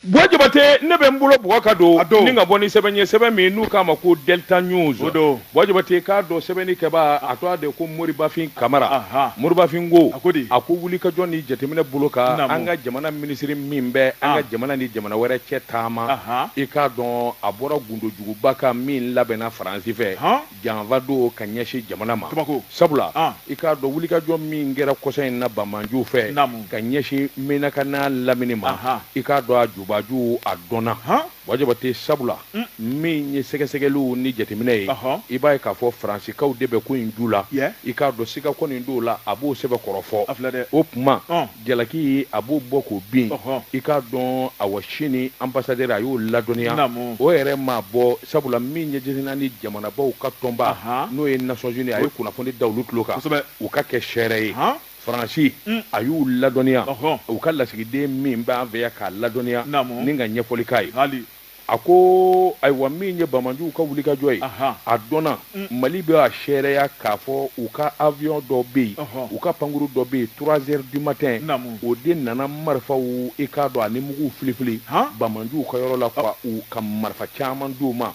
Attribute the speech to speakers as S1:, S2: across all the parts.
S1: Buwa Jabate ne bɛ n bolo bugɔ ka don ni ka bɔ ni sɛbɛn ye sɛbɛn min n'u k'a ma ko Delta News Buwa Jabate k'a dɔn sɛbɛnni kɛbaa a tɔgɔ de ko Moribafin Kamara Moribafin ko a ko wulikajɔ ni jateminɛ bolo kan an ka jamana minisiri min bɛ an ka jamana ni jamana wɛrɛ cɛ taama i k'a dɔn a bɔra gundo juguba kan min labɛnna Faransi fɛ janfa don ka ɲɛsin jamana ma sabula i k'a dɔn wulikajɔ min kɛra kɔsa in na banmanjuw fɛ ka ɲɛsin Menaka n'a lamini ma i k'a dɔn a jubaju a dɔnna Buwa Jabate sabula min ye sɛgɛsɛgɛliw ni jateminɛ ye i b'a ye k'a fɔ faransikaw de bɛ ko in ju la i k'a dɔn siga kɔni t'o la a b'o sɛbɛn kɔrɔfɔ o tuma jalaki a b'o bɔ k'o bin i k'a dɔn awa Chine ambassadeur a y'o ladɔnniya o yɛrɛ ma bɔ sabula min ye diɲɛ nin jamanabaw ka tɔnba n'o ye Nations Unies a ye kunnafoni da olu tulo kan u ka kɛ seere ye faransi mm. a y'u ladɔnniya u ka lasigiden min b'an fɛ yan k'a ladɔnniya ni ka ɲɛfɔli k'a ye a ko ayiwa min ye bamajuw ka wulikajɔ ye a dɔnna mm. mali bɛ a seereya k'a fɔ u ka avion dɔ bɛ yen u ka pankuru dɔ bɛ yen trois heures du matin o de nana marifaw i k'a dɔn ani muguw filifili bamajuw ka yɔrɔ la ka u ka marifa caman di u ma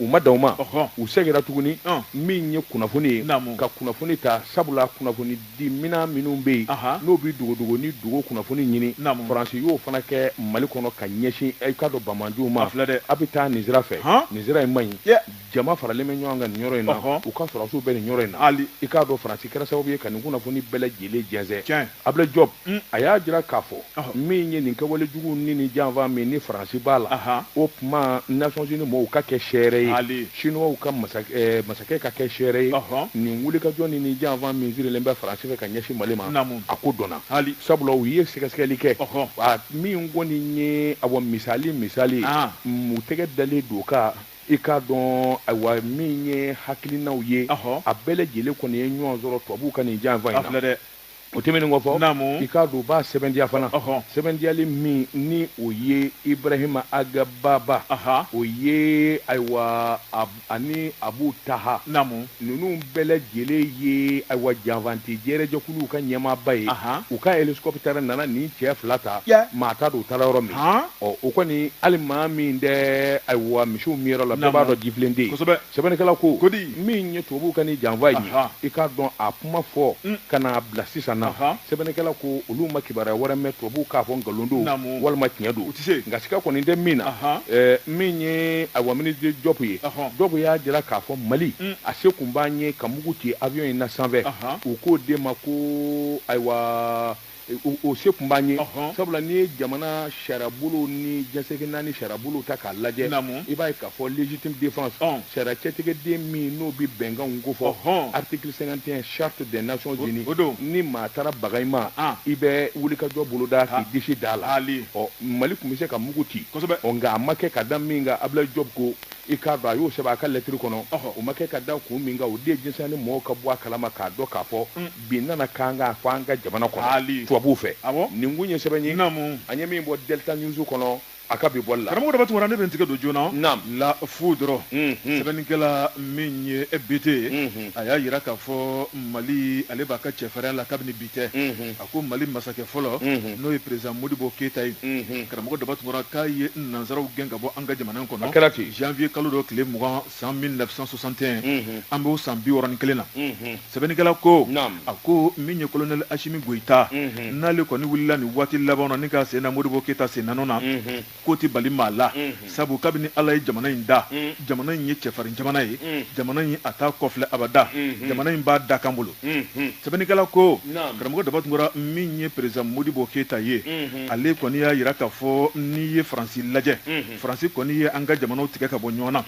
S1: u ma dan o ma u seginna tuguni min ye kunnafoni ye ka kunnafoni ta sabula kunnafoni di minɛn minnu bɛ yen n'o bɛ dogodogo ni dogo kunnafoni ɲini faransi y'o fana kɛ mali kɔnɔ ka ɲɛsin i k'a dɔn bamanjuw ma filɛ dɛ aw bɛ taa nin sira fɛ nin sira in man ɲi jama faralen bɛ ɲɔgɔn kan nin yɔrɔ in na u ka sɔrɔsiw bɛ nin yɔrɔ in na i k'a dɔn faransi kɛra sababu ye ka nin kunnafoni bɛɛ lajɛlen jɛnsɛn Abulayi Jɔpu Unh! A y'a jira k'a fɔ, ɔhɔ, min ye nin kɛwale jugu ni nin janfa min ni Faransi b'a la, anhan, o tuma Nations Unies mɔɔw ka kɛ seere ye, haali, Chinois ka masakɛ, masakɛ ka kɛ seere ye, ɔhɔ, nin wulikajɔ ni nin janfa min sirilen bɛ Faransi fɛ ka ɲɛsin Mali ma, naamu, a ko dɔnna, haali, sabula u ye sɛgɛsɛgɛli kɛ, ɔhɔ, a min kɔni ye, awɔ, misali misali, an, u tɛgɛ dalen d'o kan i k'a dɔn, ayiwa, min ye hakilinaw ye, ɔhɔ, a bɛɛ lajɛlen kɔni ye ɲɔgɔn sɔrɔ tubabuw ka nin janfa in na, a filɛ dɛ! o tɛmɛnen kɔfɛ i k'a dɔn u b'a sɛbɛntiya fana sɛbɛntiyali min ni o ye ibrahima agababa o ye ayiwa ani abu taha ninnu bɛɛ lajɛlen ye ayiwa janfanti jɛrɛjɛkuluw ka ɲɛmaaba ye u ka hélicoptère nana nin cɛ fila ta maa t'a dɔn u taara yɔrɔ min ɔ o kɔni hali maa min tɛ ayiwa misiw minyɔrɔ la bɛɛ b'a dɔn jifilen tɛ yen sɛbɛnnikɛla ko ko di min ye tubabuw ka nin janfa in ye i k'a dɔn a kuma fɔ mm. ka n'a bila sisan na sɛbɛnnikɛla ko olu ma kibaruya wɛrɛ mɛn tubabuw k'a fɔ nkalon don walima tiɲɛ don nka siga kɔni tɛ min na min ye ayiwa minisiri jɔpu ye jɔpu y'a jira k'a fɔ mali mm. a se kun b'an ye ka mugu ci avion in na sanfɛ u k'o de ma ko ayiwa o se tun b'an ye sabula n'i ye jamana sariyabolo ni diɲɛ seleke naani sariyabolo ta k'a lajɛ i b'a ye k'a fɔ légitime défense sariya cɛtigɛden min n'o bɛ bɛnkan ko fɔ article 51 charte des Nations unies ni maa taara baga i ma i bɛ wulikajɔ boloda k'i disi da la ɔ mali tun bɛ se ka mugu ci nka a ma kɛ ka da min kan Abdoulaye Diop ko i k'a dɔn a y'o sɛbɛn a ka lɛtiri kɔnɔ o ma kɛ ka da kun min kan o de ye diɲɛ seleke naani mɔgɔw ka bɔ a kalama k'a dɔn k'a fɔ bin nana k'an kan ko an ka jamana kɔnɔ tubabuw fɛ nin kun ye sɛbɛn ye an ye min bɔ delta news kɔnɔ a ka bi bɔli la karamɔgɔ daba tunkara ne bɛ n tigɛ don
S2: joona naam La Foudre sɛbɛnnikɛla min ye BT ye a y'a jira k'a fɔ Mali ale b'a ka cɛfarinya la kabini bi tɛ a ko Mali masakɛ fɔlɔ n'o ye président Modibo Keyita ye karamɔgɔ daba tunkara k'a ye nansaraw gɛn ka bɔ an ka jamana in kɔnɔ a kɛra ten janvier kalo dɔ tile mugan san 1961 an b'o san biwɔɔrɔ ni kelen na sɛbɛnnikɛla ko a ko min ye kolonɛli asimi goyita n'ale kɔni wulila nin waati laban na ni k'a sen da modibo keyita sennɔ na ko tɛ bali maa la sabu kabini ala ye jamana in da jamana in ye cɛfarin jamana ye jamana in a t'a kɔ filɛ abada jamana in b'a dakan bolo sɛbɛnnikɛla ko karamɔgɔ daba tunkara min ye président modibo keyita ye ale kɔni y'a jira k'a fɔ n'i ye faransi lajɛ faransi kɔni ye an ka jamanaw tigɛ ka bɔ ɲɔgɔn na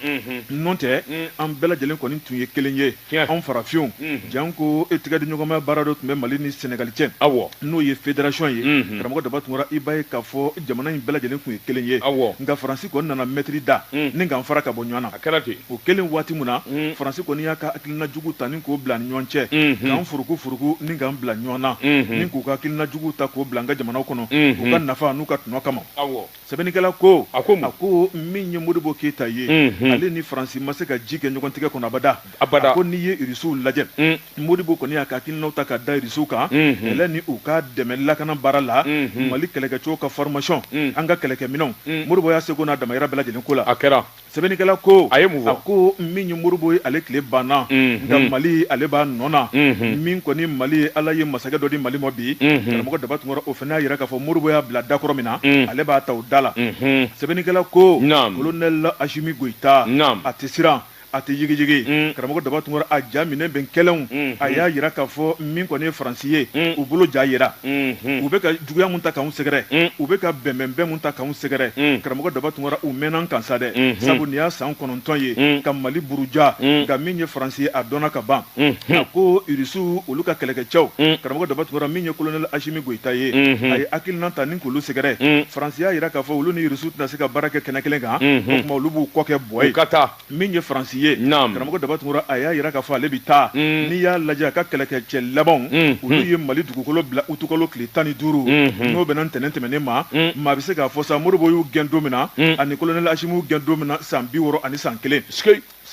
S2: n'o tɛ an bɛɛ lajɛlen kɔni tun ye kelen ye anw farafinw janko i tigɛ di ɲɔgɔnma baara dɔ tun bɛ mali ni senegali cɛ n'o ye fédération ye karamɔgɔ daba tunkara i b'a ye k'a fɔ jamana in bɛɛ lajɛlen tun ye kelen ye nka faransi kɔni nana mɛtiri da ni k'an fara ka bɔ ɲɔgɔn na a kɛra ten o kelen waati min na faransi kɔni y'a ka hakilina jugu ta ni k'o bila an ni ɲɔgɔn cɛ k'an furuku furuku ni k'an bila ɲɔgɔn na ni k'u ka hakilina jugu ta k'o bila an ka jamanaw kɔnɔ u ka nafa n'u ka tɔnɔ kama sɛbɛnnikɛla ko a ko a ko min ye modibo keyita ye mhm. ale ni faransi ma se ka ji kɛ ɲɔgɔn tigɛ kɔnɔ abada abada a ko n'i ye irisiw lajɛ mm. modibo kɔni y'a ka hakilinaw ta ka da irisiw kan mhm. kɛlɛ ni u ka dɛmɛ lakana baara la mhm. mali kɛlɛkɛcogo ka formation an ka kɛlɛkɛminɛnw modibo y'a seko n'a damayira bɛɛ lajɛlen k'o la a kɛra
S1: sɛbɛnnikɛla ko
S2: a ye mun fɔ a
S1: ko min ye
S2: modibo ye ale tile banna nka mali ale b'a nɔ na min kɔni mali ye ala ye masakɛ dɔ di mali ma bi karamɔgɔ daba tunkara o fana y'a yira k'a fɔ modibo y'a bila dakɔrɔ min na ale b'a ta o da la sɛbɛnnikɛla ko kolonɛli asimi goyita a tɛ siran a tɛ yigiyigi karamɔgɔ daba tunkara a ja minɛ bɛn kɛlenw a y'a jira k'a fɔ min kɔni ye faransi ye u bolo ja jira u bɛ juguya mun ta k'anw sɛgɛrɛ mm. u bɛ ka bɛnbɛnbɛn mun ta k'anw sɛgɛrɛ mm. karamɔgɔ daba tunkara u mɛɛnna a kan sa dɛ mm-hmm. sabu nin y'a san kɔnɔntɔn ye mm. ka mali buruja nka min ye faransi ye a dɔnna ka ban mm-hmm. a ko irisiw olu ka kɛlɛkɛcɛw karamɔgɔ daba tunkara min ye kolonɛli asimi goyita ye mm-hmm. a ye hakilinan ta ni k'olu sɛgɛrɛ faransi y'a jira k'a fɔ olu ni irisiw tɛna se ka baara kɛ kɛnɛ kelen kan o tuma olu b'u kɔ kɛ bɔ yen min ye faransi ye karamɔgɔ daba tunkara a y'a jira k'a fɔ ale bɛ taa mm. n'i y'a lajɛ a ka kɛlɛkɛcɛ labanw mm. olu mm. ye mali dugukolo bila utukalo tile tan ni duuru mm-hmm. n'o bɛnna ntɛnɛn tɛmɛnen ma maa bɛ se k'a fɔ sa modibo y'u gɛn don min na ani kolonɛli asimi y'u gɛn don min na san bi wɔɔrɔ ani san kelen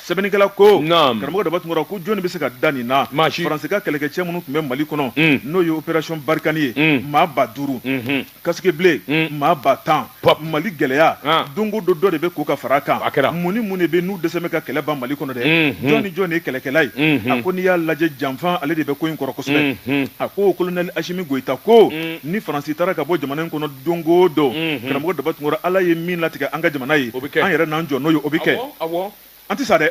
S2: sɛbɛnnikɛla ko karamɔgɔ daba tunkara ko jɔnni bɛ se ka da nin na faransi ka kɛlɛkɛcɛ minnu tun bɛ mali kɔnɔ n'o ye operasiyɔn barikani ye maa ba duuru mm-hmm. casque bleu mm. maa ba tan mali gɛlɛya ah. don o don dɔ de bɛ ko ka fara kan mun ni mun de bɛ n'u dɛsɛ bɛ ka kɛlɛ ban mali kɔnɔ dɛ mm-hmm. jɔn ni jɔn de ye kɛlɛkɛla ye mm-hmm. a ko n'i y'a lajɛ janfan ale de bɛ ko in kɔrɔ kosɛbɛ mm-hmm. a ko kolonɛli asimi goyita ko mm. ni faransi taara ka bɔ jamana in kɔnɔ don o don karamɔgɔ daba tunkara ala ye min latigɛ an ka jamana ye an yɛrɛ n'an jɔ n'o ye o bɛ kɛ an tɛ sa dɛ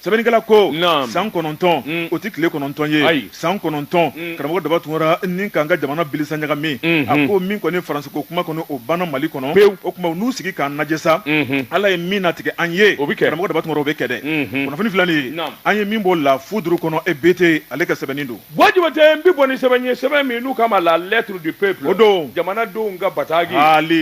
S2: sɛbɛnnikɛla ko san kɔnɔntɔn mm. o tɛ tile kɔnɔntɔn ye san kɔnɔntɔn mm. karamɔgɔ daba tunkara ni k'an ka jamana bilisa ɲagami mm-hmm. a ko min kɔni faransiko kuma kɔni o banna mali kɔnɔ pewu o tuma n'u sigi k'an lajɛ sa mm-hmm. ala ye min natigɛ an ye o bɛ kɛ karamɔgɔ daba tunkara o bɛ kɛ dɛ mm-hmm. kunnafoni filɛ nin ye an ye min bɔ la foudre kɔnɔ EBT ale ka sɛbɛnni don Buwa Jabate n bɛ bɔ
S1: ni sɛbɛn ye sɛbɛn min n'u k'a ma la lettre du peuple o don jamanadenw ka bataki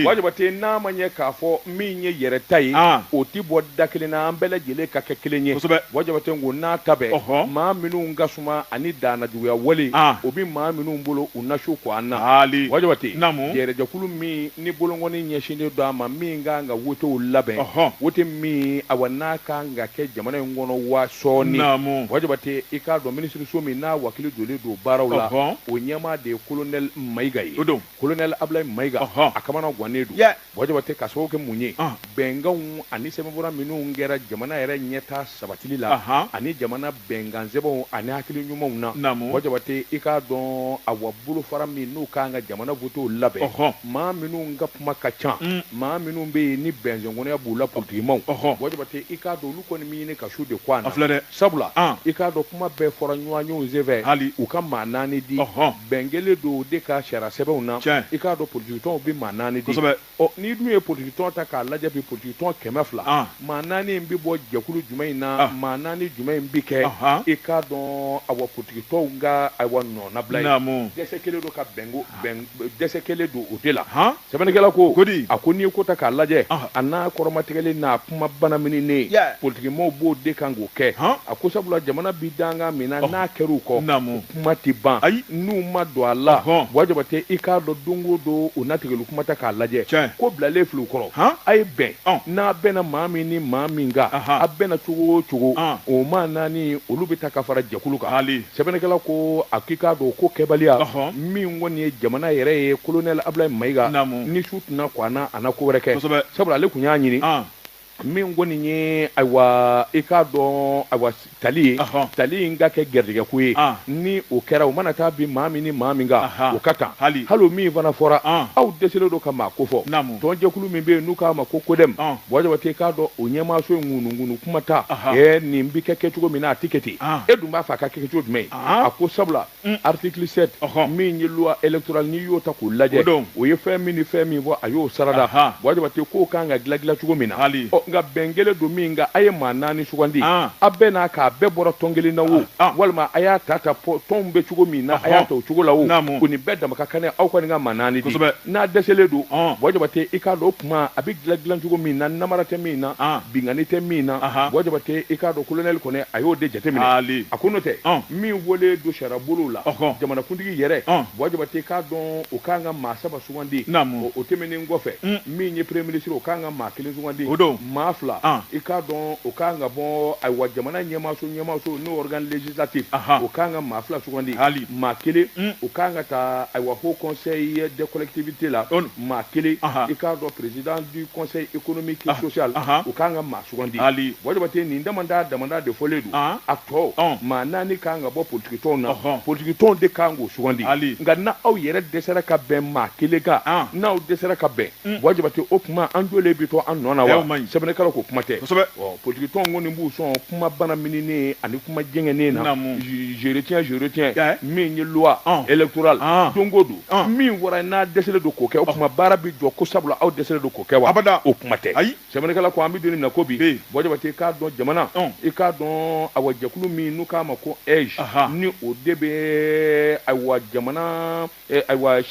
S1: Buwa Jabate n'a ma ɲɛ k'a fɔ min ye yɛrɛ ta ye o tɛ bɔ da kelen na an bɛɛ lajɛlen ka kɛ kelen ye Buwa Jabate ko nataba maa minnu ka suma ani danajuguya wale o bɛ maa minnu bolo u na su ko an na Buwa Jabate yɛrɛ jɛkulu min ni bolonkɔni ɲɛsinnen don a ma min ka kan ka wotew labɛn Ɔhɔn. wote min awa n'a ka kan ka kɛ jamana in kɔnɔ waa sɔɔni Naamu. Buwa Jabate i k'a dɔn minisiriso min n'a wakili donnen don baaraw la Ɔhɔn. o ɲɛmaa de ye kolonɛli Mayiga ye O don. kolonɛli Abulayi Mayiga Ɔhɔn. a kamana gannen don Yɛ. Buwa Jabate k'a sababu kɛ mun ye Ɔn. bɛnkanw ani sɛbɛnfura minnu kɛra jamana yɛrɛ ɲɛtaa sabatili la Ahan. ani jamana bɛnkansɛbɛnw ani hakili ɲumanw na. Naamu. Buwa Jabate, i k'a dɔn awa bolofara min n'u ka kan ka jamana votew labɛn. Ɔhɔn. Maa minnu ka kuma ka ca. Un. Maa minnu bɛ yen ni bɛnsɛnkɔnɔya b'u la politikimaw. Ɔhɔn. Buwa Jabate, i k'a dɔn olu kɔni bɛ ɲini ka su de ko a na. A filɛ dɛ. Sabula. An. I k'a dɔn kuma bɛɛ fɔra ɲɔgɔnyew senfɛ. Hali. U ka maa naani di. Ɔhɔn. Bɛn kɛlen don o de kan sariyasɛbɛnw na. Tiɲɛ. I k'a dɔn politikitɔnw bɛ maa naani di. Kosɛbɛ. Ɔ n'i dun ye politique tɔn ta k'a lajɛ bi politique tɔn kɛmɛ fila An. maa naani in bɛ bɔ jɛkulu jumɛn in na maa naani jumɛn in bɛ kɛ Ahan. i k'a dɔn awa politique tɔnw ka awa nɔnabila ye Naamu. dɛsɛ kɛlen don ka bɛnko bɛn dɛsɛ kɛlen don o de la Han. sɛbɛnnikɛla ko Ko di. a ko n'i ye ko ta k'a lajɛ Ahan. a n'a kɔrɔmatigɛlen n'a kuma banamininen Yeah. politikimaw b'o de kan k'o kɛ Han. a ko sabula jamana bɛ dankan min na n'a kɛra u kɔ Naamu. kuma tɛ ban ayi n'u ma don a la buwa jabate i k'a dɔn don o don o natigɛli kuma ta k'a lajɛ ko bilalen filɛ u kɔrɔ a ye bɛn n'a bɛnna maa min ni maa min kan a bɛnna cogo o cogo o maa naani olu bɛ ta ka fara jɛkulu kan sɛbɛnnikɛla ko a k'i k'a dɔn ko kɛbaliya min kɔni ye jamana yɛrɛ ye kolonɛli abulayi mayiga ni su tɛna ko a na a na ko wɛrɛ kɛ sabula ale tun y'a ɲini min kɔni ye ayiwa i k'a dɔn ayiwa tali ye Ɔhɔn. tali in ka kɛ gɛrijɛgɛ ko ye An. ni o kɛra o mana taa bin maa min ni maa min kan Ahan. o ka kan Hali. o min fana fɔra An. aw dɛsɛlen don ka maa ko fɔ Naamu. tɔnjɛkulu min bɛ yen n'u k'a ma ko kodɛm An. bɔ jabate i k'a dɔn o ɲɛmaaso in ŋunuŋunu kuma ta Ahan. ɛ nin bɛ kɛ kɛcogo min na a tɛ kɛ ten An. e dun b'a fɛ a ka kɛ kɛcogo jumɛn ye An. a ko sabula Mm. article 7 ɔhɔn min ye loi électorale n'i y'o ta k'o lajɛ o ye fɛn min ni fɛn min fɔ a y'o sarada bɔ jabate k'o kan ka gila gila cogo min na hali ɔ nka bɛn kɛlen don min kan a ye maa naani sugandi ah. a bɛɛ n'a k'a bɛɛ bɔra tɔn kelen na o ah, ah. walima a y'a ta ta tɔnw bɛ cogo min na a y'a ta o cogo la o o nin bɛɛ dama ka kan aw kɔni ka maa naani di n'a dɛsɛlen don bɔ jabate i k'a dɔn kuma a bɛ dilan dilan cogo min na namara tɛ min na ah. binkanni tɛ min na bɔ jabate i k'a dɔn colonel kɔni a y'o de jateminɛ ah, a ko n'o tɛ ah. min fɔlen don sariya bolo la jamanakuntigi yɛrɛ bɔ jabate i k'a dɔn o kan ka maa saba sugandi o tɛmɛnen kɔfɛ mm. min ye premier ministre o kan ka maa kelen sugandi maa fila i k'a dɔn o kan ka bɔ ayiwa jamana ɲɛmaaso ɲɛmaaso n'o organe législatif o kan ka maa fila sugandi maa kelen mm. o kan ka taa ayiwa haut conseil des collectivités la maa kelen i k'a dɔn président du conseil économique et social o kan ka maa sugandi hali bɔ jabate nin dama dama de fɔlen don a tɔ maa naani kan ka bɔ politikitɔnw na politikitɔnw de kan k'u sugandi hali nka n'aw yɛrɛ dɛsɛra ka bɛn maa kelen kan n'aw dɛsɛra ka bɛn bɔ jabate o kuma an jɔlen bɛ to an nɔ na wa sɛbɛnnikɛla ko kuma tɛ politikitɔnw kɔni b'u sɔn kuma banamininen ani kuma jɛngɛnen na Naamu. je- je retiens, je retiens. Tiɲɛ. min ye loi Ɔn. électorale Ɔn. don o don Ɔn. min fɔra n'a dɛsɛlen don k'o kɛ o kuma baara bɛ jɔ ko sabula aw dɛsɛlen don k'o kɛ wa Abada. o kuma tɛ Ayi. sɛbɛnnikɛla ko an bɛ don nin na ko bi Bi. bɔ jabate i k'a dɔn jamana Ɔn. i k'a dɔn awa jɛkulu min n'u k'a ma ko AIGE Aha. ni o de bɛ ayiwa jamana Ayiwa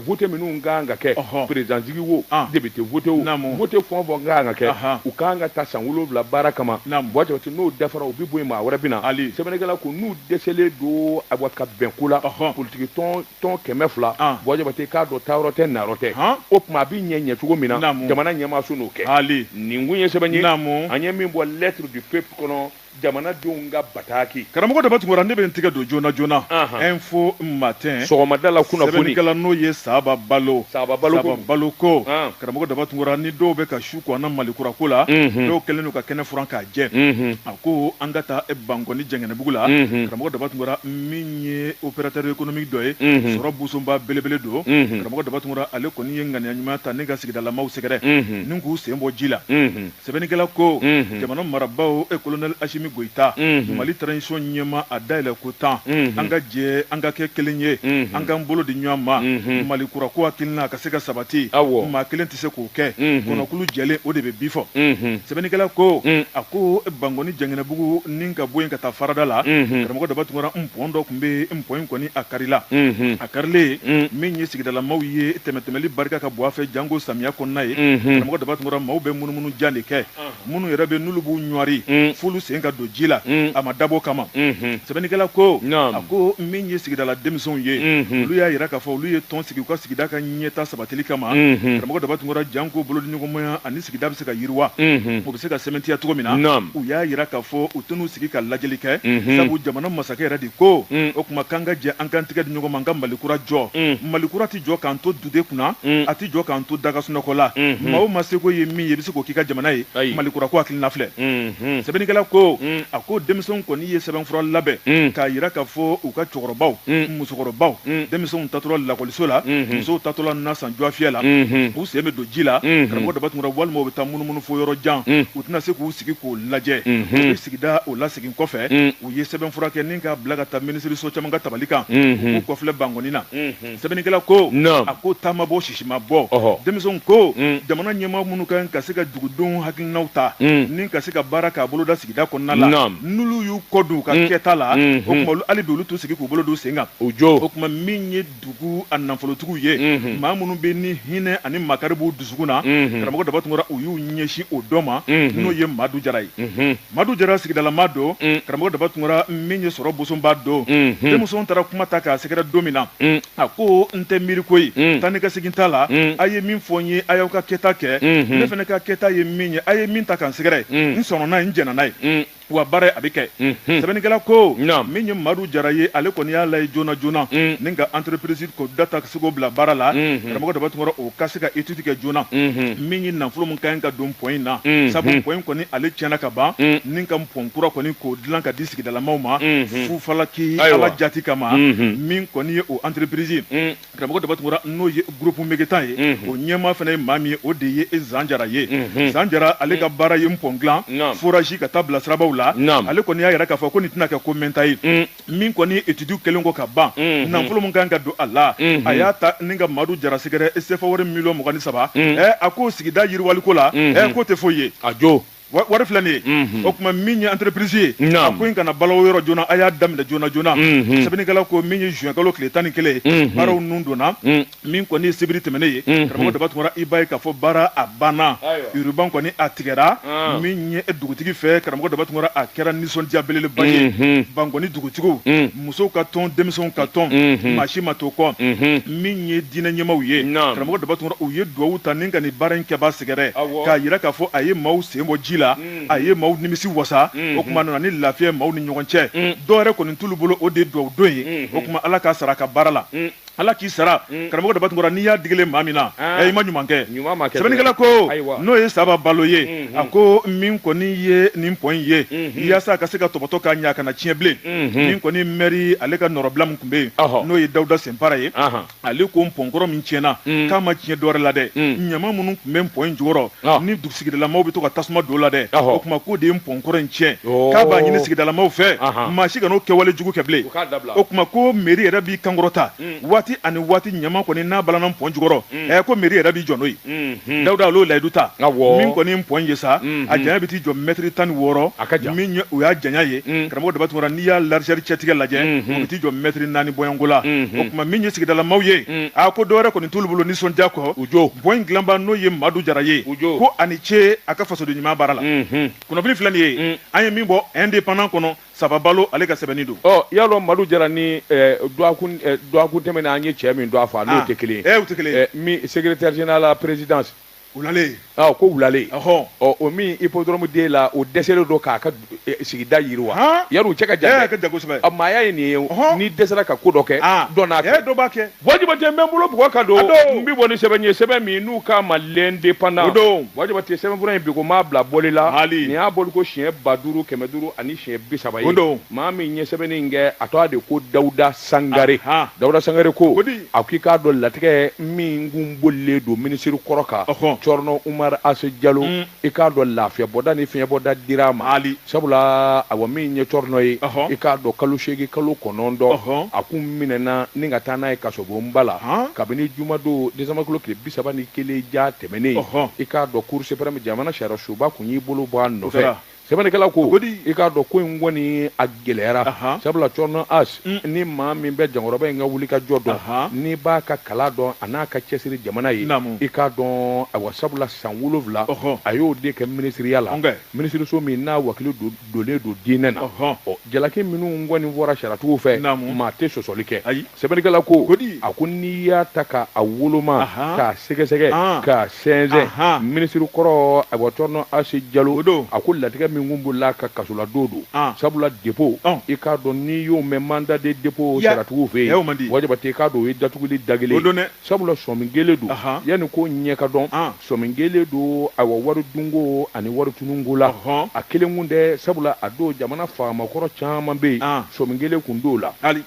S1: vote minnu ka kan ka kɛ président sigi wo député vote wo vote fɛn o fɛn ka kan ka kɛ u kan ka taa san wolowula baara kama bɔ jabate n'o dafara u bɛ bɔ yen maa wɛrɛ bɛ na ali sɛbɛnnikɛla ko n'u dɛsɛlen don a ka bɛn ko la politikitɔn kɛmɛ fila bɔ jabate k'a dɔn taayɔrɔ tɛ nayɔrɔ tɛ o tuma a bɛ ɲɛ ɲɛ cogo min na jamana ɲɛmaaso n'o kɛ nin kun ye sɛbɛn ye an ye min bɔ lettre du peuple kɔnɔ jamanadenw ka bataki karamɔgɔ daba tunkara ne
S2: bɛ n tigɛ don joona joona info matin sɔgɔmada la
S1: kunnafoni sɛbɛnnikɛla n'o ye saba
S2: balo saba balo saba balo ko karamɔgɔ daba tunkara ni dɔw bɛ ka su ko an na malikura ko la dɔw kɛlen don ka kɛnɛ furan k'a jɛ a ko an ka taa bankɔni jɛngɛnɛbugu la karamɔgɔ daba tunkara min ye opérateur économique dɔ ye sɔrɔ busonba belebele don karamɔgɔ daba tunkara ale kɔni ye ŋaniya ɲuman ta ni ka sigidalamaw sɛgɛrɛ ni k'u sen bɔ ji la sɛbɛnnikɛla ko mhm. jamana marabaaw e kolonɛli asimi goyita mhm. mali transition ɲɛmaa a dayɛlɛ ko tan mhm. an ka jɛ an ka kɛ kelen ye an k'an bolo di ɲɔgɔn ma mali kura ko hakilina ka se ka sabati maa kelen tɛ se k'o kɛ kɔnɔkulu jɛlen o de bɛ bi fɔ sɛbɛnnikɛla ko mm. a ko bankɔni jɛngɛnɛbugu ni ka bɔ yen ka taa farada la karamɔgɔ daba tunkara npɔn dɔ tun bɛ npɔn in kɔni a karila karilen mm. min ye sigidalamaw ye tɛmɛtɛmɛli barika ka bɔ a fɛ janko samiya kɔnɔna ye mm-hmm. karamɔgɔ daba tunkara maaw bɛ munumunu jan de kɛ ah. minnu yɛrɛ bɛ n'olu b'u ɲɔri mm. f'olu sen ka don ji la mm. a ma dabɔ kama mm-hmm. sɛbɛnnikɛla ko a ko min ye sigidala denmisɛnw ye mm-hmm. olu y'a yira k'a fɔ olu ye tɔn sigi u ka sigida ka ɲɛtaa sabatili kama karamɔgɔ daba tunkara janko bolodiɲɔgɔnmaya ani sigida bɛ se ka yiriwa o bɛ se ka sɛmɛntiya cogo min na u y'a yira k'a fɔ u tɛn'u sigi ka lajɛli kɛ sabu jamana masakɛ yɛrɛ de ko mm. o tuma k'an ka jɛ an k'an tigɛ di ɲɔgɔn ma an ka malikura jɔ mm. malikura tɛ jɔ k'an to dute kunna mm. a tɛ jɔ k'an to da ka sunɔgɔ la mm-hmm. maa o maa seko ye min ye i bɛ se k'o k'i ka jamana ye malikura ko hakilina filɛ mm-hmm. sɛbɛnnikɛla ko a ko denmisɛnw kɔni ye sɛbɛnfura labɛn k'a yira k'a fɔ u ka cɛkɔrɔbaw musokɔrɔbaw denmisɛnw taatɔla lakɔliso la mm-hmm. musow taatɔla na san dɔgɔfiyɛ la u sen bɛ don ji la karamɔgɔ daba tunkara walima u bɛ taa munumunu fo yɔrɔ jan u tɛna se k'u sigi k'o lajɛ o bɛ sigida o lasegin kɔfɛ u ye sɛbɛn fura kɛ ni k'a bila ka taa minisiriso caman ka tabali kan u k'u kɔ filɛ bankɔni na sɛbɛnnikɛla ko a ko ta ma bɔ sisi ma bɔ denmisɛnw ko jamana ɲɛmaa minnu kan ka se ka dugudenw hakilinaw ta ni ka se ka baara k'a boloda sigida kɔnɔna la n'olu y'u kɔ don u ka kɛta la o tuma hali bi olu t'u sigi k'u bolo d'u sen kan o jɔ o tuma min ye dugu a nafolotigiw ye mhm. maa minnu bɛ ni hinɛ ani makari b'u dusukun na mhm. karamɔgɔ daba tunkara u y'u ɲɛsin o dɔ ma mhm. n'o ye madu jara ye madu jara sigidalama don karamɔgɔ daba tunkara min ye sɔrɔ bosonba don denmisɛnw taara kuma ta k'a sɛgɛrɛ don min na a ko n tɛ miiri ko ye taa ni ka segin t'a la a ye min fɔ n ye a y'aw ka kɛta kɛ ne fana ka kɛta ye min ye a ye min ta ka n sɛgɛrɛ n sɔnna n'a ye n jɛnna n'a ye wa baara ye a bɛ kɛ sɛbɛnnikɛla ko min ye madu jara ye ale kɔni y'a laye joona joona ni ka entreprise ko dɔ ta ka se k'o bila baara la karamɔgɔ daba tunkara o ka se ka étude kɛ joona min ye nafolo min ka ka don pɔn in na sabu pɔn in kɔni ale tiɲɛna ka ban ni ka pɔn kura kɔni k'o dilan ka di sigidalamaw ma fu falaki ala jati kama min kɔni ye o entreprise karamɔgɔ daba tunkara n'o ye groupe megetan ye o ɲɛmaa fana ye maa min ye o de ye zan jara ye zan jara ale ka baara ye npɔn dilan forage ka taa bila sirabaw la ale kɔni y'a yira k'a fɔ ko nin tɛna kɛ ko mɛɛnta ye min kɔni étude kɛlen kɔ ka ban nafolo min kan ka don a la a y'a ta ni ka madu jara sɛgɛrɛ sefawari miliyɔn mugan ni saba a ko sigida yiriwaliko la k'o tɛ foyi ye a jɔ wari filɛ nin ye o tuma min ye entreprise ye a ko in kana bala o yɔrɔ joona a y'a daminɛ joona joona sɛbɛnnikɛla ko min ye juin kalo tile tan ni kelen ye baaraw nun donna min kɔni ye sibiri tɛmɛnen ye karamɔgɔ daba tunkara i b'a ye k'a fɔ baara a banna ruban kɔni a tigɛra min ye dugutigi fɛ karamɔgɔ daba tunkara a kɛra nisɔndiya belebeleba ye bankɔni dugutigiw musow ka tɔn denmisɛnw ka tɔn mhm. maa si ma to kɔ mhm. min ye diinɛ ɲɛmaaw ye karamɔgɔ daba tunkara u ye duwawu ta ni ka nin baara in kɛba sɛgɛrɛ k'a yira k'a fɔ a ye maaw sen bɔ ji la mhm. a ye maaw nimisi wasa o tuma nana ni lafiya maaw ni ɲɔgɔn cɛ dɔwɛrɛ kɔni t'olu bolo o de duwawu don ye o tuma ala k'a sara a ka baara la ala k'i sara mm. karamɔgɔ daba tunkara n'i y'a digile maa min na ah. eh, i ma ɲuman kɛ sɛbɛnnikɛla ko n'o ye saba balo ye mm-hmm. a ko min kɔni ye nin pɔn in ye mm-hmm. yaasa a ka se ka tɔbɔtɔ ka ɲa a kana tiɲɛ bilen mm-hmm. min kɔni mɛri ale ka nɔrɔbila min tun bɛ yen n'o ye dawuda senpara ye ale ko pɔnkɔrɔ min tiɲɛna mm. k'a ma tiɲɛ dɔwɛrɛ la dɛ mm. ɲama minnu tun bɛ pɔn in jukɔrɔ ni sigidalamaw bɛ to ka tasuma don o la dɛ o tuma k'o de ye pɔnkɔrɔ in tiɲɛ k'a b'a ɲini sigidalamaw fɛ maa si kana o kɛwale jugu kɛ bilen o tuma ko mɛri yɛrɛ b'i kan kɔrɔta waati ani waati ɲama kɔni n'a balanna pɔn jukɔrɔ ɛ ko mɛri yɛrɛ b'i jɔ n'o ye dawuda a y'o layidu ta min kɔni pɔn ye sa a janya bɛ t'i jɔ mɛtiri tan ni wɔɔrɔ la o y'a janya ye karamɔgɔ daba tunkara n'i y'a largeur cɛtigɛ lajɛ o bɛ t'i jɔ mɛtiri naani bɔɲɔgɔnko la o tuma min ye sigidalamaw ye a ko dɔwɛrɛ kɔni t'olu bolo nisɔndiya kɔ jo pɔn in dilanba n'o ye madu jara ye jo ko a ni ce a ka fasoden ɲuman baara la kunnafoni filɛ nin ye an ye min bɔ indépendant kɔnɔ saba balo ale ka sɛbɛnni don ɔ y'a dɔn madu jara
S1: nin dɔgɔkun tɛmɛnen an ye cɛ min tɔgɔ fɔ n'o tɛ kelen ye o tɛ kelen ye
S2: min secrétaire
S1: général la présidence wulale
S2: ko wulale
S1: o min hippodrome den la o dɛsɛlen don k'a ka sigida yiriwa a cɛ ka jan a maaya
S2: ye nin
S1: ye n'i dɛsɛra ka ko dɔ kɛ dɔ n'a kɛ wa jabate
S2: n bɛ n bolo
S1: bugɔ ka don n bɛ bɔ ni sɛbɛn ye sɛbɛn min n'u k'a ma l'indépendant don wa jabate sɛbɛnfura in bi ko m'a bila bɔli la nin y'a bɔli ko siɲɛ ba duuru kɛmɛ duuru ani siɲɛ bi saba ye maa min ye sɛbɛnni in kɛ a tɔgɔ de ko dawuda sangare dawuda sangare ko a k'i k'a dɔn latigɛ min kun bolilen don minisiriri kɔrɔ kan cɔrɔnɔ umaru ase jalo i k'a dɔn lafiya bɔda ni fiɲɛ bɔda dir'a ma sabula awa min ye cɔrɔnɔ ye i k'a dɔn kalo seegin kalo kɔnɔntɔn a kun minɛna ni ka taa n'a ye kasobonba la kabini jumadon décembre kalo tile bi saba ni kelen ja tɛmɛnen i k'a dɔn cour suprême jamana sariya soba tun y'i bolo bɔ a nɔfɛ sɛbɛnnikɛla ko i k'a dɔn ko in kɔni gɛlɛyara sabula cɔrɔnɔ as mm. ni maa min bɛ jankɔrɔba in ka wuli ka jɔ dɔn n'i b'a ka kala dɔn an'a ka cɛsiri jamana ye i k'a dɔn awa sabula san wolonwula a y'o de kɛ minisiriya la minisiriso min n'a wakili donnen don diinɛ na ɔ jalaki minnu kɔni fɔra sariyatigiw fɛ maa tɛ sɔsɔli kɛ sɛbɛnnikɛla ko Kodi. a ko n'i y'a ta ka a woloma Aha. k'a sɛgɛsɛgɛ An. k'a sɛnsɛn Aha. minisiri kɔrɔ awa Cɔrɔnɔ ase jalo O don. a ko latigɛ min kun bolila ka kasola don don An. sabula depo Ɔn. i k'a dɔn n'i y'o mɛn manda de depo Ya. sariyatigiw fɛ Ya, o man di. yen wa Jabate i k'a dɔn o ye datuguli da kelen O don dɛ. sabula sɔmi kɛlen don Aha. yanni ko ɲɛ ka dɔn An. sɔmi kɛlen don awa wari dunko ani wari tununko la Ɔhɔn. a kelen kun tɛ sabula a dɔn jamana faamakɔrɔ caman bɛ yen An. sɔmi kɛlen kun don o la Hali.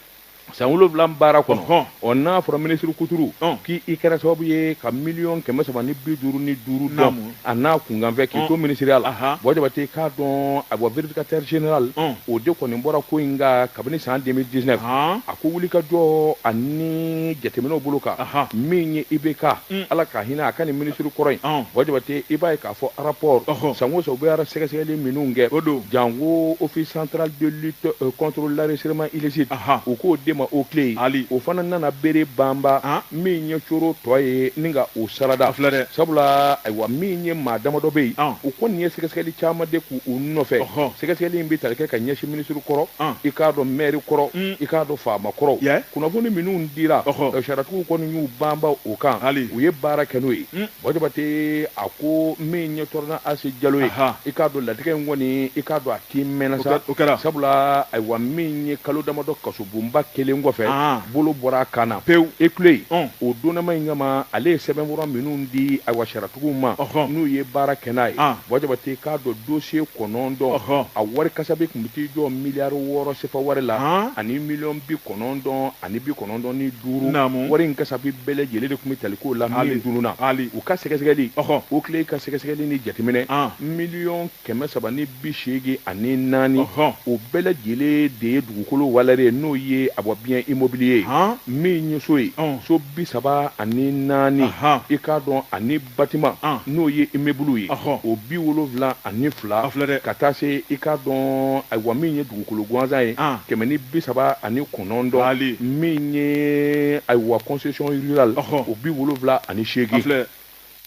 S1: san wolonwula baara kɔnɔ Ɔhɔn. ɔ n'a fɔra minisiri kuturu Ɔn. k'i kɛra sababu ye ka miliyɔn kɛmɛ saba ni bi duuru ni duuru dɔn Naamu. a n'a kunkanfɛn k'i Ɔn. to minisiriya la Aha. bɔn jabate k'a dɔn a bɔ vérificateur général Ɔn. o de kɔni bɔra ko in kan kabini san 2019 Ɔn. a ko wulikajɔ ani jateminɛw bolo kan Aha. min ye ibk Mm. ala ka hinɛ a ka nin minisiri kɔrɔ in Ɔn. bɔn jabate i b'a ye k'a fɔ rapport san o san u bɛ awa sɛgɛsɛgɛli minnu kɛ o don jango office central de lutte euh, contre l'enrichissement illicite u k'o de ma OCLEI o fana nana bere banba min ye coro tɔ ye ni ka o sarada filɛ dɛ sabula ayiwa min ye maa damadɔ bɛ yen u kɔni ye sɛgɛsɛgɛli caman de k'u nɔfɛ sɛgɛsɛgɛli in bɛ tali kɛ ka ɲɛsin minisiri kɔrɔ i k'a dɔn mɛri kɔrɔ mm. i k'a dɔn faama kɔrɔ kunnafoni minnu dira sariyatigiw kɔni y'u banba o kan u ye baara kɛ n'o ye mm. Bon jabate a ko min ye Cɔrɔnɔ ase jalo ye i k'a dɔn latigɛ in kɔni i k'a dɔn a kɛ mɛnna sa kɛra sabula ayiwa min ye kalo damadɔ kasobonba kelen kɔfɛ bolo bɔra a kan na pewu e ku yen o donma in kama ale ye sɛbɛnfura minnu di ayiwa sariyatigiw ma n'u ye baara kɛ n'a ye bon jabate k'a dɔn dosiye kɔnɔntɔn a wari kasabi kun bɛ t'i jɔ miliyari wɔɔrɔ sefa wari la ani miliyɔn bi kɔnɔntɔn ani bi kɔnɔntɔn ni duuru wari in kasabi bɛɛ lajɛlen de kun bɛ tali k'o la min tununna u ka sɛgɛsɛgɛli OCLEI ka sɛgɛsɛgɛli ni jateminɛ miliyɔn kɛmɛ saba ni bi seegin ani naani o bɛɛ lajɛlen de ye dugukolo walɛri ye n'o ye a bɔ bien immobilier min ye so ye so bi saba ani naani i k'a dɔn ani batiman n'o ye imebulu ye o bi wolonwula ani fila ka taa se i k'a dɔn ayiwa min ye dugukolo gansan ye kɛmɛ ni bi saba ani kɔnɔntɔn min ye ayiwa kɔnsesɔn rurale o bi wolonwula ani seegin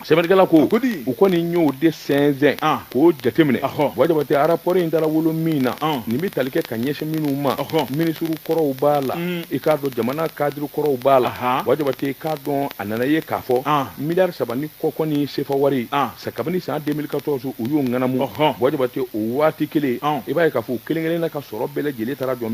S1: sɛbɛnnikɛla ko u kɔni y'o de sɛnsɛn k'o jateminɛ wa Jabate arapɔri in dara wolo min na nin bɛ tali kɛ ka ɲɛsin minnu ma minisiri kɔrɔw b'a la i k'a dɔn jamana kadiri kɔrɔw b'a la wa Jabate k'a dɔn a nana ye k'a fɔ miliyari saba ni kɔ kɔni sefa wari ah. sa kabini san 2014 u y'o ŋanamu bɔn Jabate o waati kelen ah. i b'a ye k'a fɔ u kelen kelen na ka sɔrɔ bɛɛ lajɛlen taara jɔ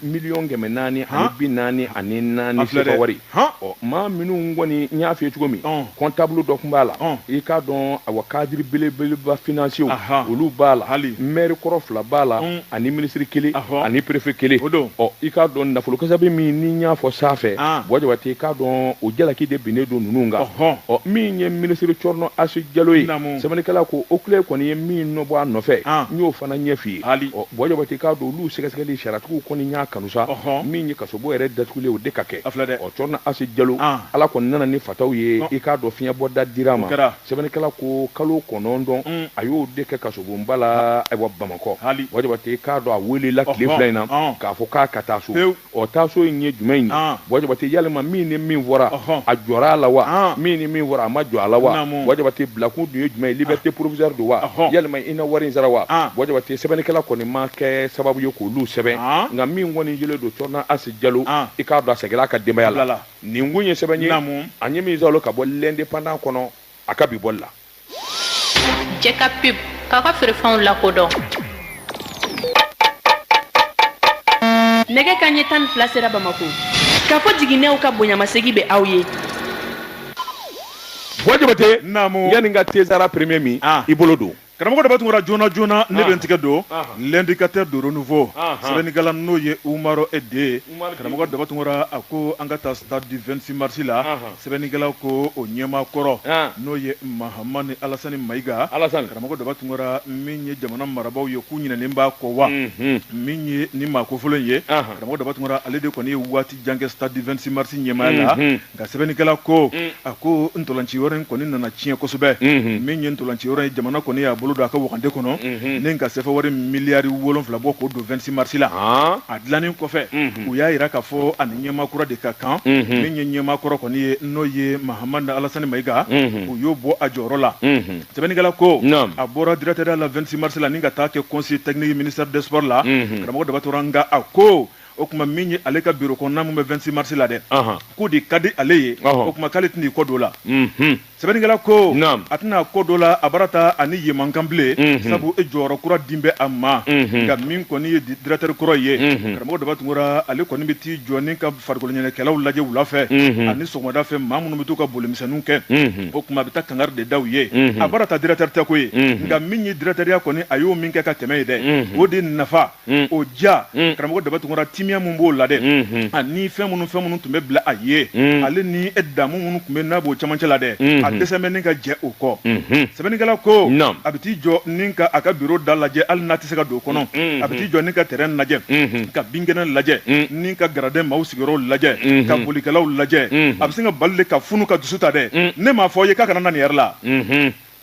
S1: miliyɔn kɛmɛ naani ani bi naani ani naani sefa wari ɔ maa minnu kɔni n y'a f'i ye cogo min kɔntabulu dɔ kun b'a la i k'a dɔn awa kadiri belebeleba finansiyew olu b'a la mɛri kɔrɔ fila b'a la ani minisiri kelen ani perefe kelen ɔ i k'a dɔn nafolo kasabi min ni y'a fɔ sanfɛ buwa jabate i k'a dɔn o jalaki de binnen don ninnu kan ɔ min ye minisiri cɔrɔnɔ asi jalo ye sɛbɛnnikɛla ko okile kɔni ye min nɔ bɔ a nɔfɛ n y'o fana ɲɛ f'i ye ɔ buwa jabate k'a dɔn olu sɛgɛsɛgɛli sariyatigiw kɔni y'a kanu sa min ye kasobon yɛrɛ datugulen o de ka kɛ ɔ cɔrɔnɔ asi jalo ala kɔni nana ni fataw ye i k'a dɔn fiɲɛbɔda dira a ma sɛbɛnnikɛla ko kalo kɔnɔntɔn mm. a y'o de kɛ kasobonba la ayiwa bamakɔ buwa jabate k'a dɔn a welela tile fila in na k'a fɔ k'a ka taa so ɔ taa so in ye jumɛn ye buwa jabate yalima min ni min fɔra a jɔra a la wa min ni min fɔra a ma jɔ a la wa buwa jabate bilakun dun ye jumɛn ye liberté provisoire don wa yalima i na wari in sara wa buwa jabate sɛbɛnnikɛla kɔni ma kɛ sababu ye k'olu sɛbɛn nka min kɔni jɛlen don cɔrɔnɔ asi jalo i k'a dɔn a seginna a ka denbaya la nin kun ye sɛbɛn ye an ye min sɔrɔ ka bɔ lɛndepandan kɔnɔ a ka bi bɔli
S3: la jɛka pub k'a ka feerefɛnw lakodɔn nɛgɛ kanɲɛ tan ni fila sera bamako kafo jiginɛw ka bonyamasegi bɛ aw
S1: ye buwa jabate yanni ka tezara premier min ah. i bolo don karamɔgɔ daba tunkara
S2: joona joona ne bɛ n tigɛ don l'indicateur du renouveau sɛbɛnnikɛla n'o ye umarɔ e de ye karamɔgɔ daba tunkara a ko an ka taa stade du 26 marisi la sɛbɛnnikɛla ko o ɲɛmaa kɔrɔ n'o ye mahamani alasani mayiga karamɔgɔ daba tunkara min ye jamana marabaaw ye k'u ɲinɛnen b'a kɔ wa min ye ni maa kofɔlen ye karamɔgɔ daba tunkara ale de kɔni ye waati jan kɛ stade du 26 marisi ɲɛmaaya la nka sɛbɛnnikɛla ko mm. a ko ntolanci yɔrɔ in kɔni nana tiɲɛ kosɛbɛ mm-hmm. min ye ntolanci yɔrɔ ye jamana kɔni y'a bolo don a ka wagande kɔnɔ mm-hmm. ni ka sefa wari miliyari wolonfila bɔ k'o don 26 marisi la ah. a dilannen kɔfɛ mm-hmm. u y'a yira k'a fɔ a ni ɲɛmaa kura de ka kan min ye ɲɛmaa kɔrɔ kɔni ye n'o ye mahamani alasani mayiga u y'o bɔ a jɔyɔrɔ la sɛbɛnnikɛla ko a bɔra directeur da la 26 marisi la ni ka taa kɛ conseil technique ministère des sports la karamɔgɔ daba tunkara nka a ko o kuma min ye ale ka biro kɔnɔna min bɛ 26 marisi la dɛ k'o de ka di ale ye o kuma k'ale tɛna i kɔ don la mhm. sɛbɛnnikɛla ko a tɛna kɔ don la a bara ta a ni yen man kan bilen mhm. sabu e jɔyɔrɔ kura din bɛ a ma mhm. nka min kɔni ye diratɛri kɔrɔ ye karamɔgɔ daba tunkara ale kɔni bɛ t'i jɔ ni ka farikoloɲɛnajɛkɛlaw lajɛ wula fɛ ani sɔgɔmada fɛ maa minnu bɛ t'u ka bolimisɛnninw kɛ o kuma a bɛ taa kangari de da u ye a bara ta diratɛri tɛ ko ye nka min ye diratɛriya kɔni a y'o min kɛ ka tɛmɛ ye dɛ o de nafa Mm. o diya mm. karamɔgɔ daba tunkara timiya min b'o la dɛ mm-hmm. ani ah, fɛn minnu fɛn minnu tun bɛ bila a ye mm. ale ni damu minnu tun bɛ n'a b'o camancɛ la dɛ a mm-hmm. dɛsɛn bɛ ni ka jɛ o kɔ mm-hmm. sɛbɛnnikɛla ko a bɛ t'i jɔ ni ka a ka biro da lajɛ hali n'a tɛ se ka don o kɔnɔ a bɛ t'i jɔ ni ka tɛrɛn lajɛ ka binkɛnɛ lajɛ ni ka garadɛn maaw sigiyɔrɔw lajɛ ka bolikɛlaw lajɛ a bɛ se ka bali de ka funu ka dusu ta dɛ ne m'a fɔ ye k'a kana na nin yɛrɛ la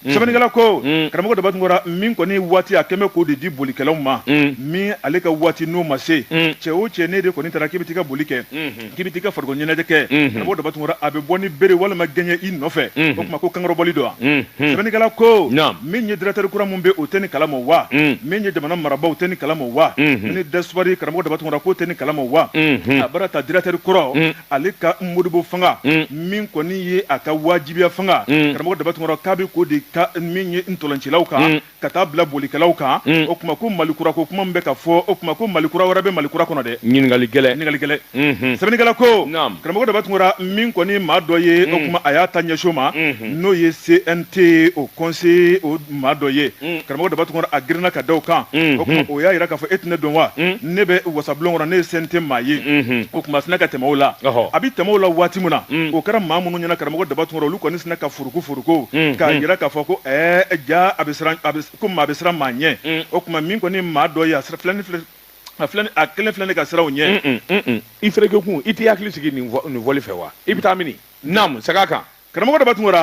S2: Mm. sɛbɛnnikɛla ko mm. karamɔgɔ daba tunkara min kɔni waati a kɛmɛ k'o de di bolikɛlaw ma mm. min ale ka waati n'o ma se cɛ o cɛ ne de kɔni taara k'i bɛ t'i ka boli kɛ mm-hmm. k'i bɛ t'i ka farikoloɲɛnajɛ kɛ mm-hmm. karamɔgɔ daba tunkara a bɛ bɔ ni bere walima gɛɲɛ i nɔfɛ mm-hmm. o tuma ko kankɔrɔbɔli don wa sɛbɛnnikɛla ko min ye directeur kura min bɛ o tɛ nin kalama wa min ye jamana marabaaw tɛ nin kalama wa ni de sport karamɔgɔ daba tunkara k'o tɛ nin kalama wa a baara ta directeur kɔrɔ ale ka modibo fanga mm. min kɔni ye a ka wajibiya fanga mm. karamɔgɔ daba tunkara k'a bɛ k'o de ka min ye ntolancilaw kan mm. ka taa bila bolikɛlaw kan o tuma ko malikura ko kuma min bɛ ka fɔ o tuma ko malikura wɛrɛ bɛ malikura kɔnɔ dɛ ɲininkali gɛlɛn ɲininkali gɛlɛn mm-hmm. sɛbɛnnikɛla ko karamɔgɔ daba tunkara min kɔni maa dɔ ye o tuma a y'a ta ɲɛso ma mm-hmm. n'o ye cnt o conseil o maa dɔ ye mm. karamɔgɔ daba tunkara a girinna ka da o kan mm-hmm. o tuma o y'a yira k'a fɔ e tɛ ne dɔn wa mm. ne bɛ wasabulon kɔnɔ ne ye cnt maa ye mm-hmm. o tuma sinna ka tɛmɛ o la a bɛ tɛmɛ o la waati min na mm. o kɛra maa minnu ɲɛna karamɔgɔ daba tunkara olu kɔni sinna ka furuku furuku mm-hmm. k'a yira k'a fɔ ko ɛɛ jaa a bɛ siran ko maa bɛ siran maa ɲɛ o tuma min kɔni maa dɔ ye a sira filɛ ni filɛ a filɛ a kelen filɛ nin ka siran o ɲɛ i fɛrɛkɛ
S1: kun i t'i hakili sigi nin fɔli fɛ wa i bɛ taa mini naamu seg'a kan karamɔgɔ daba tunkara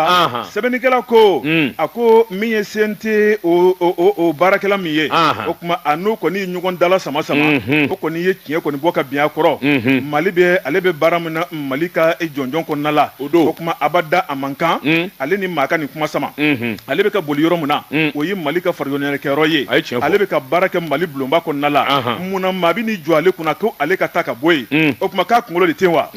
S2: sɛbɛnnikɛla ko mm. a ko min ye cnt o baarakɛla min ye o tuma a n'o kɔni ye ɲɔgɔn dala sama sama mm-hmm. o kɔni ye tiɲɛ kɔni bɔ ka bin a kɔrɔ mm-hmm. mali bɛ ale bɛ baara min na mali ka jɔnjɔn kɔnɔna la o don o tuma abada a man kan mm. ale ni maa ka nin kuma sama mm-hmm. ale bɛ ka boli yɔrɔ min na mm. o ye mali ka farikoloɲɛnajɛkɛyɔrɔ ye ale bɛ ka baara kɛ mali bulonba kɔnɔna la mun na maa bɛ n'i jɔ ale kunna ko ale ka taa ka bɔ yen o tuma k'a kunkolo de tɛ wa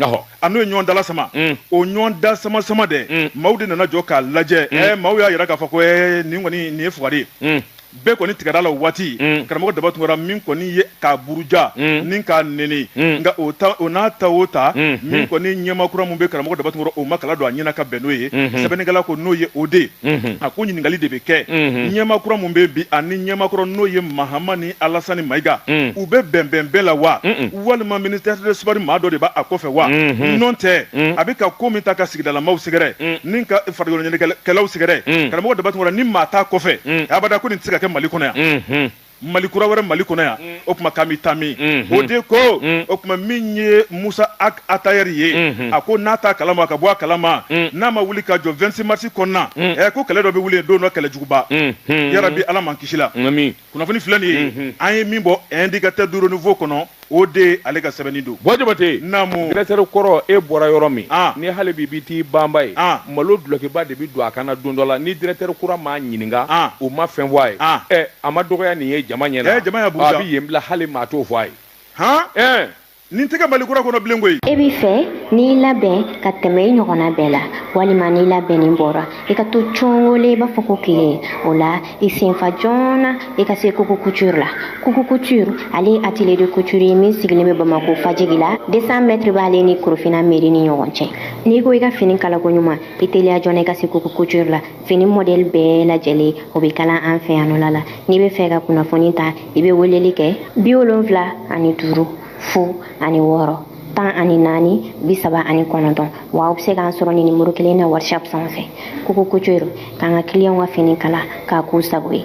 S2: a n'o ye ɲɔgɔn dala sama mm. o ɲɔgɔn da sama sama dɛ mm. maaw de nana jɔ k'a lajɛ mm. eh, maaw y'a yira k'a fɔ ko eh, nin kɔni nin ye fugari ye mm. bɛɛ kɔni tigɛra la waati mm. karamɔgɔ daba tunkara min kɔni ye k'a buruja mm. ni k'a neni mm. nka o ta o n'a ta o ta mm. min mm. kɔni ɲɛmaa kura min bɛ karamɔgɔ daba tunkara o ma kala don a ɲɛna ka bɛn n'o ye mm-hmm. sɛbɛnnikɛla ko n'o ye o de ye Mhm. a ko ɲininkali de bɛ kɛ mhm. ɲɛmaa kura min bɛ bi ani ɲɛmaa kura n'o ye mahamani alasani mayiga mhm. u bɛ bɛnbɛn bɛɛ la wa walima ministère de sport maa dɔ de b'a kɔfɛ wa nɔntɛ a bɛ ka ko min ta ka sigidalamaw sɛgɛrɛ ni ka farikoloɲɛnajɛkɛlaw sɛgɛrɛ karamɔgɔ daba tunkara ni maa t'a kɔfɛ abada ko nin tɛ se ka kɛ mali kɔnɔ yan mali kura wɛrɛ mali kɔnɔ yan mm. o tuma k'an bɛ taa min mm-hmm. o de ko mm. o tuma min ye mossa ag attaher ye mm-hmm. a ko n'a t'a kalama ka bɔ a kalama mm. n'a ma wuli ka jɔ 26 marisi kɔnɔna ɛ ko kɛlɛ dɔ bɛ wuli don dɔ kɛlɛ juguba mm-hmm. yarabi ala m'an kisi la kunnafoni filɛ nin ye an ye min bɔ indicateur du renouveau kɔnɔ o de ale ka sɛbɛnni dɔ bɔ jabate
S1: naamu dirɛkitɛri
S2: kɔrɔ
S1: e bɔra yɔrɔ min ah. ni hali bi bi t'i banba ye ah. malo dulɔkiba de bi don a kan na don dɔ la ni dirɛkitɛri kura m'a ɲininka ah. o ma fɛn fɔ a ye ah. ɛ eh, a ma dɔgɔya nin ye jama ɲɛ na eh, jama y'a buruja a bi yen
S2: bila hali maa
S1: t'o fɔ a ye han eh. nin tɛ kɛ mali
S2: kura kɔnɔ bilen koyi e b'i fɛ
S4: n'i labɛn ka tɛmɛ i ɲɔgɔnna bɛɛ la walima n'i labɛnnen bɔra i ka to congole i b'a fɔ ko tile o la i senfa joona i ka se kuku couture la kuku couture ale ye atelier de couture ye min sigilen bɛ bamako fajigila 200 mètre b'ale ni korofina meri ni ɲɔgɔn cɛ n'i ko i ka fini kalako ɲuman i teliya joona i ka se kuku couture la fini modèle bɛɛ lajɛlen o bɛ kala an fɛ yan o la n'i b'a fɛ ka kunnafoni ta i bɛ weleli kɛ bi wolonfila ani duuru fu ani wɔɔrɔ tan ani naani bi saba ani kɔnɔntɔn wa aw bɛ se k'an sɔrɔ nin nimoro kelen na whatsapp sanfɛ kuku couture k'an ka kiliyanw ka fini kala k'a k'u sago ye